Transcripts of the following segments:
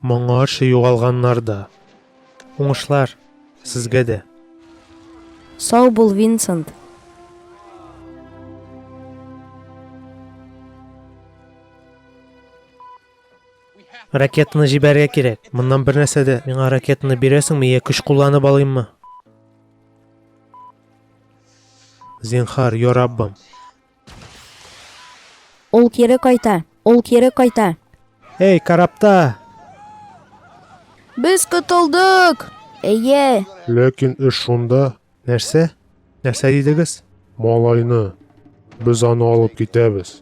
Моңарчы югалганнар да. Уңышлар сезгә дә. Сау бул, Винсент. Ракетаны җибәрергә кирәк. Моннан бер нәрсә дә. Миңа ракетаны бирәсеңме, я көч кулланып алыйммы? Зинхар, я Раббым. Ул кире кайта. Ул кире кайта. Эй, карапта! Без котылдык! Әйе! Ләкин эш шунда. Нәрсә? Нәрсә дидегез? Малайны. Без аны алып китәбез.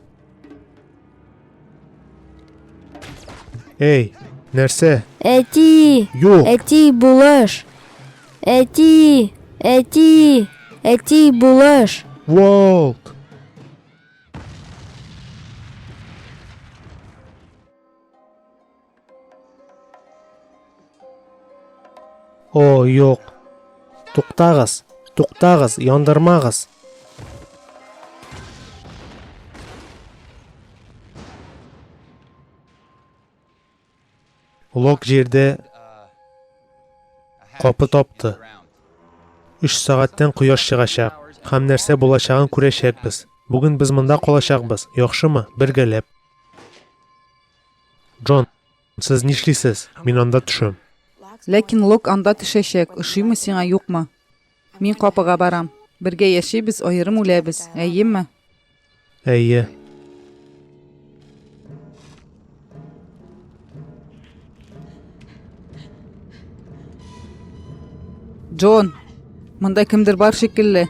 Эй, нәрсә? Әти! Юк! Әти, булыш! Әти! Әти! Әти, булыш! Волк! О, юк. Туктагыз, туктагыз, яндырмагыз. Лок җирдә капы тапты. 3 сәгатьтән кояш чыгачак һәм нәрсә булачагын күрәчәкбез. Бүген без монда калачакбыз, яхшымы? Бергәләп. Джон, сез нишлисез? Мин анда төшәм. Ләкин Лок анда төшәчәк, ошыймы сиңа, юкмы? Мин капыга барам. Бергә яшибез, аерым үләбез, әйеме? Әйе. Джон, монда кемдер бар шикелле.